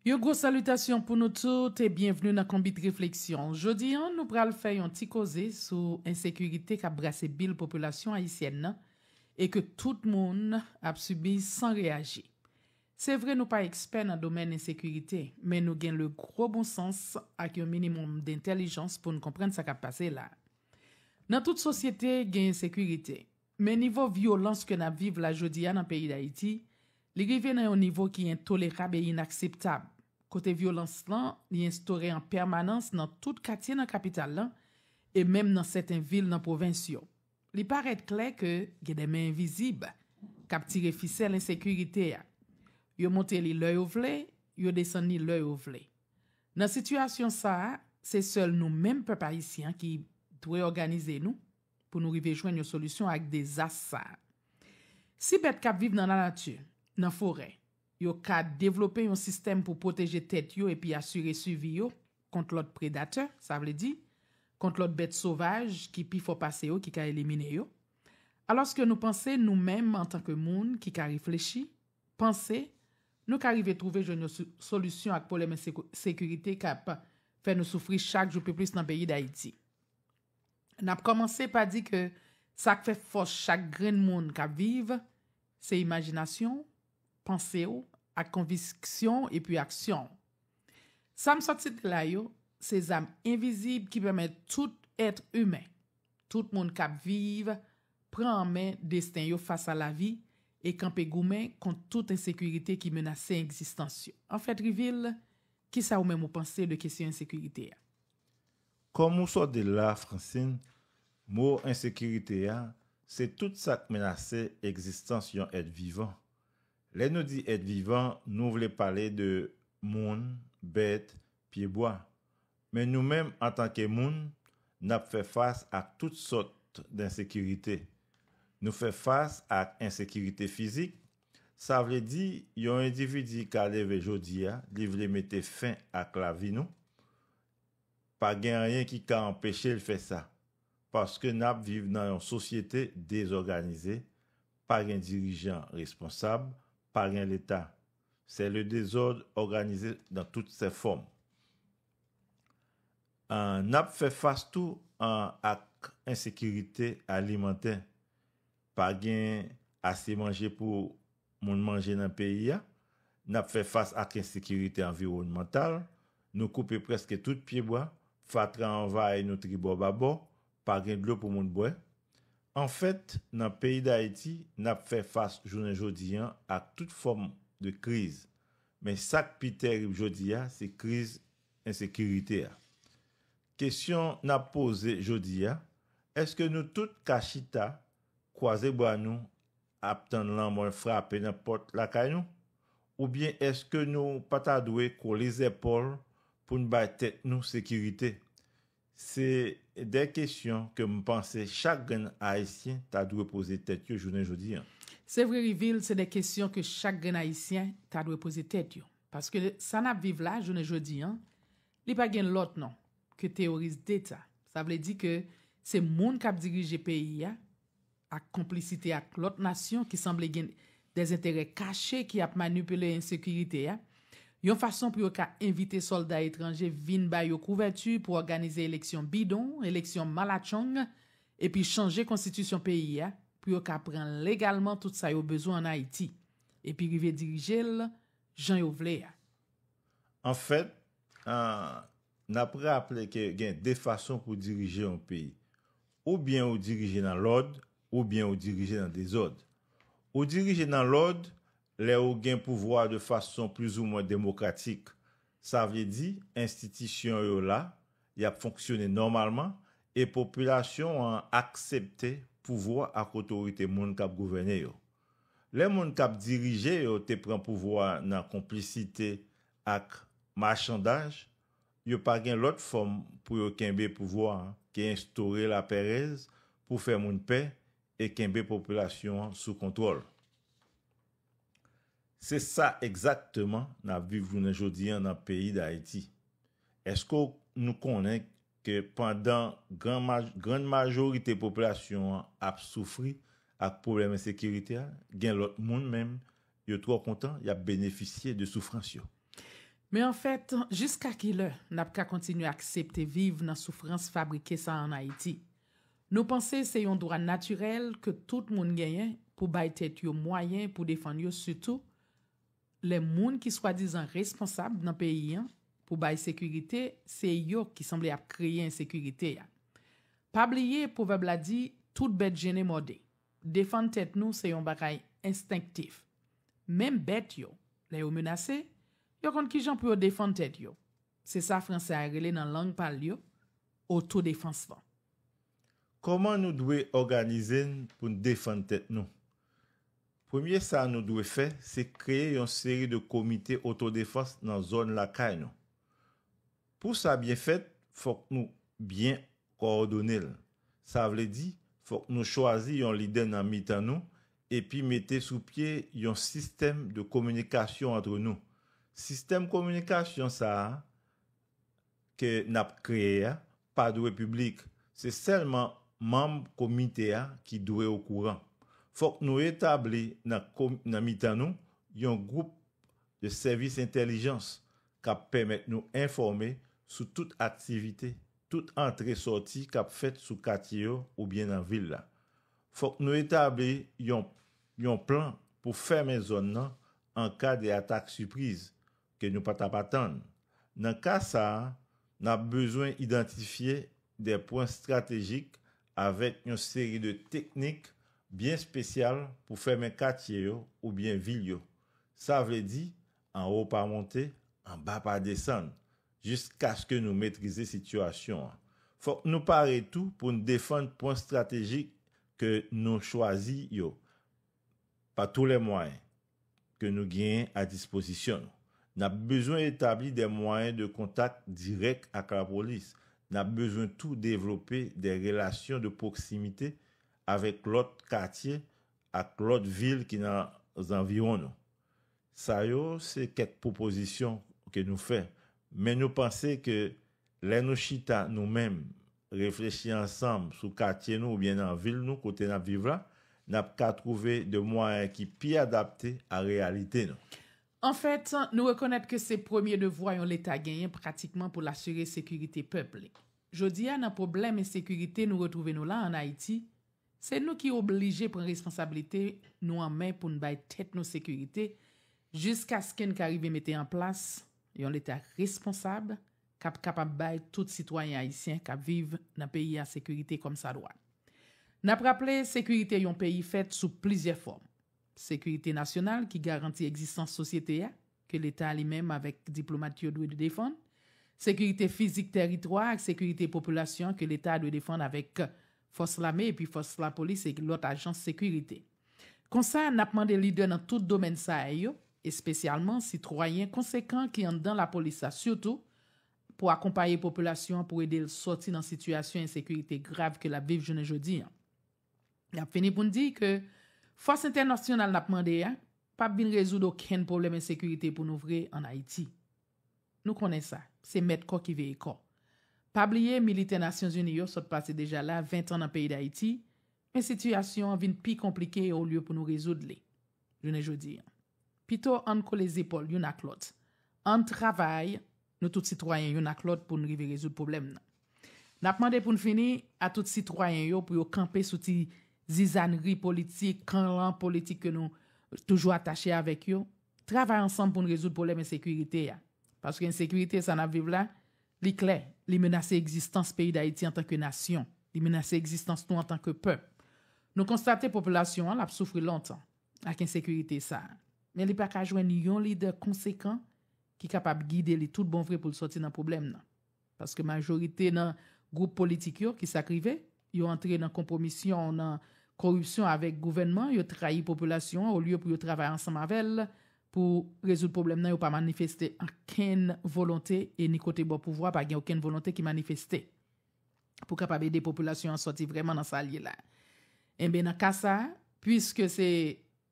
Yon gwo salitasyon pou nou tout e byenvni nan Konbit Refleksyon. Jodi an, nou pral fè yon ti koze sou ensekirite k ap brase bil popilasyon ayisyèn nan e ke tout moun ap sibi san reyaji. Se vre nou pa ekspè nan domèn ensekirite, men nou gen le gwo bon sans ak yon minimòm dentèlijans pou n konprann sa k ap pase la. Nan tout sosyete, gen ensekirite. Men nivo vyolans ke nap viv la jodi a nan peyi Dayiti, li rive nan yon nivo ki entolerab e inakseptab, kote vyolans lan li enstore an pèmanans nan tout katye nan kapital lan e menm nan sèten vil nan pwovens yo. Li parèt klè ke gen de men envizib kap tire fisèl ensekirite a. Yo monte li lè yo vle, yo desann li lè yo vle. Nan sitiyasyon sa a, se sèl nou menm pèp ayisyen an ki dwe òganize nou, pou nou rive jwenn yon solisyon ak dezas sa a. Si bèt k ap viv nan lanati, nan forè, yo ka devlope yon sistèm pou pwoteje tèt yo epi asire sivi yo kont lòt predatè, sa vle di, kont lòt bèt sovaj ki pi fò pase yo ki ka elimine yo, alòske nou panse nou menm antanke moun ki ka reflechi, panse, nou ka rive twouve jwenn yon solisyon ak pwoblèm ensekirite k ap fè nou soufri chak jou pi plis nan peyi Dayiti. N ap kòmanse pa di ke sa k fè fòs chak grenn moun k ap viv, se imajinasyon w, panse w, ak konviksyon w epi aksyon w. Sa m sot site la yo, se zam envizib ki pèmèt tout èt imen, tout moun k ap viv, pran an men desten yo fas a lavi e kanpe goumen kont tout ensekirite ki menase egzistans yo. Anfèt, Rivil, kisa ou menm ou panse de kesyon ensekirite a? Kòm ou sot di l la Francine, mo ensekirite a, se tout sa k menase egzistans yon èt vivan. Lè nou di èt vivan, nou vle pale de moun, bèt, pyebwa. Men nou menm antanke moun, n ap fè fas ak tout sòt t ensekirite. Nou fè fas ak ensekirite fizik, Sa vle di, yon endividi ka leve jodi a, li vle mete fen ak lavi nou, pa gen anyen ki ka anpeche l fè sa, paske n ap viv nan yon sosyete dezòganize, pa gen dirijan responsab, pa gen Leta. Se le dezòd òganize dan tout sè fòm. N ap fè fas tou ak ensekirite alimantè. Pa gen ase manje pou moun manje nan peyi a, n ap fè fas ak ensekirite anviwònmantal, nou koupe prèske tout pyebwa, fatra anvayi nou tribò babò, pa gen dlo pou moun bwè. Anfèt, nan peyi Dayiti, n ap fè fas jounen jodi an ak tout fòm de kriz. Men sa k pi terib jodi a, se kriz ensekirite a. Kesyon n ap poze jodi a, èske nou tout ka chita, kwaze bra nou ap tann lanmò frape nan pòt lakay nou? Oubyen èske nou pa ta dwe kole zèpòl pou n bay tèt nou sekirite? Se de kesyon ke m panse chak grenn Ayisyen ta dwe poze tèt yo jounen jodi a. Se vre wi Vil, se de kesyon ke chak grenn Ayisyen ta dwe poze tèt yo. Paske sa n ap viv la jounen jodi a, Li pa gen lòt non ke teoris deta. Sa vle di ke se moun kap dirije peyi a ak konplisite ak lòt nasyon ki sanble gen dèzenterè kache ki ap manipile ensekirite a, yon fason pou yo ka envite sòlda etranje vin ba yo kouvèti pou òganize eleksyon bidon, eleksyon malatchong, epi chanje konstitisyon peyi a pou yo ka pran legalman tout sa yo bezwen an Ayiti, epi rive dirije l jan yo vle a. An fèt, n ap raple ke gen de fason pou dirije yon peyi. Ou byen ou dirije nan lòd, ou byen ou dirije nan dezòd. Ou dirije nan lòd lè ou gen pouvwa de fason plizoumwen demokratik. Sa vle di, enstitisyon yo la, y ap fonksyone nòmalman, e popilasyon an aksepte pouvwa ak otorite moun k ap gouvène yo. Lè moun k ap dirije yo te pran pouvwa a nan konplisite ak machandaj, yo pa gen lòt fòm pou yo kenbe pouvwa a ke enstore lapèrèz pou fè moun pè e kenbe popilasyon an sou kontwòl. Se sa egzakteman n ap viv jounen jodi an nan peyi Dayiti. Èske w nou konnen ke pandan gran grann majorite popilasyon an ap soufri ak pwoblèm ensekirite a, gen lòt moun menm yo twò kontan y ap benefisye de soufrans yo. Men anfèt, jiska ki lè n ap ka kontinye aksepte viv nan soufrans fabrike sa an Ayiti? Nou panse se yon dwa natirèl ke tout moun genyen pou bay tèt yo mwayen pou defann yo sitou Lè moun ki swadizan responsab nan peyi an pou bay sekirite se yo ki sanble ap kreye ensekirite a. Pa bliye pwovèb la di tout bèt jennen mòde. Defann tèt nou se yon bagay enstenktif. Menm bèt yo, lè yo menase, yo konn kijan pou yo defann tèt yo. Se sa fransè a rele nan lang pa l yo otodefans lan. Kòman nou dwe òganize n pou n defann tèt nou? Premye sa nou dwe fè se kreye yon seri de komite otodefans nan zòn lakay nou. Pou sa byen fèt, fòk nou byen kowòdone l. Sa vle di, fòk nou chwazi yon lidè nan mitan nou epi mete sou pye yon sistèm de kominikasyon antre nou. Sistèm kominikasyon sa a ke nap kreye a pa dwe piblik, se sèlman manm komite a ki dwe okouran. Fòk nou etabli nan mitan nou yon gwoup de sèvis entèlijans kap pèmèt nou enfòme sou tout aktivite, tout antre sòti kap fèt sou katye yo oubyen nan vil la. Fòk nou etabli yon yon plan pou fèmen zòn nan an ka de atak sipriz, ke nou pa t ap atann. Nan ka sa a, n ap bezwen idantifye de pwen stratejik avèk yon seri de teknik byen spesyal pou fèmen katye yo oubyen vil yo, sa vle di anwo pa monte, anba pa desann, jiskaske nou metrize sitiyasyon an. Fòk nou pare tou pou n defann pwen stratejik ke nou chwazi yo pa tou lè mwayen. ke nou genyen a dispozisyon nou. N ap bezwen etabli de mwayen de kontak dirèk ak lapolis. N ap bezwen tou devlope de relasyon de pwoksimite avèk lòt katye ak lòt vil ki nan zanviwon nou. Sa yo se kèk pwopozisyon ke nou fè, men nou panse ke Lè nou chita nou menm, reflechi ansanm sou katye nou oubyen nan vil nou kote n ap viv la, n ap ka twouve de mwayen ki pi adapte a reyalite nou. Anfèt, nou rekonèt ke se premye devwa yon Leta genyen pratikman pou l asire sekirite pèp li. Jodi a, nan pwoblèm ensekirite nou retwouve nou la an Ayiti, Se nou ki oblije pran responsabilite nou an men pou n bay tèt nou sekirite jiskaske n ka rive mete an plas yon Leta responsab k ap kapab bay tout sitwayen ayisyen k ap viv nan peyi a sekirite kòmsadwa. N ap raple sekirite yon peyi fèt sou plizyè fòm. Sekirite nasyonal ki garanti egzistans sosyete a, ke Leta li menm avèk diplomat yo dwe defann, sekirite fizik tèritwa ak sekirite popilasyon an ke Leta dwe defann avèk Fòs Lame epi Fòs Lapolis e lòt ajans sekirite. Konsa, n ap mande lidè nan tout domèn sa a yo, espesyalman sitwayen konsekan ki anndan Lapolis la sitou, pou akonpaye popilasyon an pou ede l sòti nan sitiyasyon ensekirite grav ke l ap viv jounen jodi an. N ap fini pou n di ke fòs entènasyonal n ap mande a pa p vin rezoud okenn pwoblèm ensekirite pou nou vre ann Ayiti. Nou konnen sa, se mèt kò ki veye kò. Pa bliye militè Nasyonzini yo sot pase deja la ventan nan peyi Dayiti, men sitiyasyon an vin pi konplike olye pou nou rezoud li jounen jodi an. Pito ann kole zepòl youn ak lòt, ann travay, Nou tout sitwayen youn ak lòt pou n rive rezoud pwoblèm nan. N ap mande pou n fini a tout sitwayen yo pou yo kanpe sou ti zizanri politik, kanran politik ke nou toujou atache avèk yo, travay ansanm pou n rezoud pwoblèm ensekirite a. Paske ensekirite sa n ap viv la, li klè, li menase egzistans peyi Dayiti antanke nasyon, li menase egzistans nou antanke pèp. Nou konstate popilasyon an l ap soufri lontan. ak ensekirite sa a, men li pa ka jwenn yon lidè konsekan ki kapab gide li tout bon vre pou l sòti nan pwoblèm nan. Paske majorite nan gwoup politik yo, ki sa k rive? Yo antre nan konpwomisyon, nan koripsyon avèk gouvènman, yo trayi popilasyon an olye pou yo travay ansanm avè l pou rezoud pwoblèm nan, yo pa manifeste ankenn volonte e ni kote bò pouvwa pa gen okenn volonte ki manifeste. pou kapab ede popilasyon an sòti vrèman nan sa l ye la. Enben nan ka sa, puiske se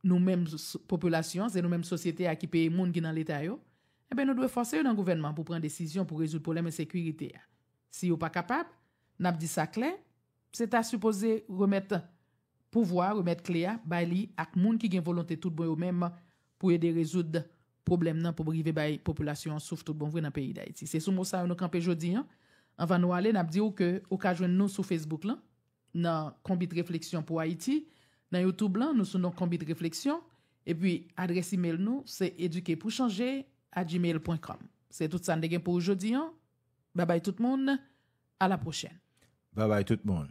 nou menm popilasyon an, se nou menm sosyete a ki peye moun ki nan Leta yo, enben nou dwe fòse yo nan gouvènman pou pran desizyon pou rezoud pwoblèm ensekirite a. Si yo pa kapab, n ap di sa klè, se ta sipoze remèt pouvwa, remèt kle a bay li ak moun ki gen volonte tout bon yo menm pou ede rezoud pwoblèm nan pou rive bay popilasyon an souf tout bon vre nan peyi Dayiti. Se sou mo sa yo nou kanpe jodi an. Anvan nou ale, n ap di ou ke ou ka jwenn nou sou Facebook lan, nan Konbit Refleksyon pou Ayiti, nan YouTube lan, nou sou non Konbit Refleksyon, epi adrès imel nou se edukepourchanger at gmail pwen kòm. Se tout sa n te gen pou ou jodi an. Babay tout moun, a la pwochèn. Babay tout moun.